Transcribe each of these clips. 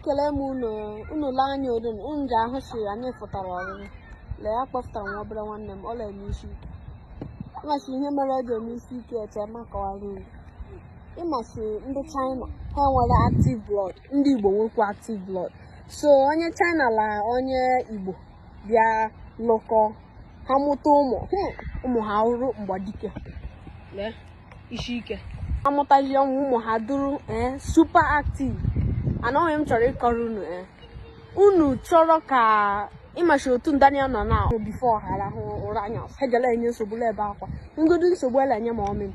ekele m unu unu lee anya odun unu ji ahụ sị anyị fụtara ọrịrị lee ya kpọfụtara nwa obere nwanne m ọ la-eme isi ike ị ma sị ihe mere o ji eme isi ike eche ma kọwara unu ị ma sị ndị china ha nwere active blood ndị igbo nwekwa active blood so onye china la onye igbo bịa lụkọ ha mụta ụmụ hmm, ụmụ ha rụrụ mgbadike la isi ike amụtazi ụmụ ha dụrụ ee eh, super active anọghị m chọrọ ịkọrọ unu ee eh. unu chọrọ ka ụmụazị otu Daniel nọ na ahụ bifo ha arahụ ụra anya hegala enye nsogbu ebe akwa ngodu nsogbu ele enye mọmị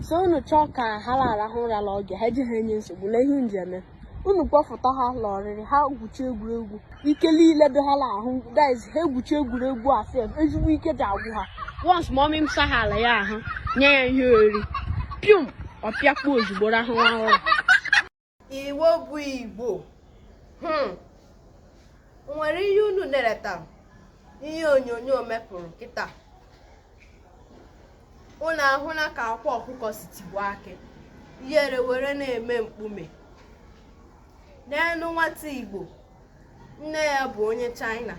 so unu chọọ ka ha la-arahụ ụra la oge ha ejighị enye nsogbu lee ihe unu ji eme unu kpọfụta ha la ọrịrị ha gwuchi egwuregwu ike niile dị ha la ahụ guys ha egwuchi egwuregwu a sef ezigbo ike ji agwụ ha once mọmị m sahala ya ahụ nye ya ihe oriri pium ọ pịakpuo ozugbo rahụ nwa ụra igbo bụ igbo hmm. nwere ihe unu na-eleta ihe onyonyo mepụrụ kịta unu ahụla ka akwa ọkụkọ si tigbuo akị ihere were na-eme mkpume n'elu nwata igbo nne ya bụ onye china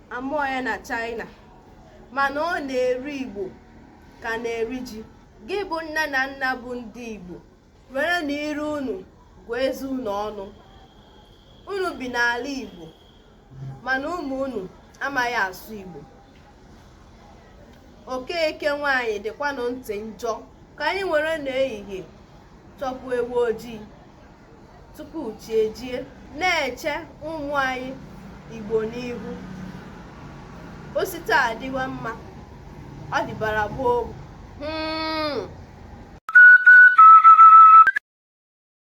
a mụọ ya na china mana ọ na-eri igbo ka a na-eri ji gị bụ nne na nna bụ ndị igbo werenụ ire unu gụọ eze unu ọnụ unu bi n'ala Igbo mana ụmụ unu amaghị asụ Igbo Okeke nwaanyị dịkwanụ ntị njọ ka anyị were n'ehihie chọpụ ewu ojii tupu chi ejie na-eche ụmụ anyị igbo n'ihu o si taa dịwa mma ọ dịbara gboo hmm.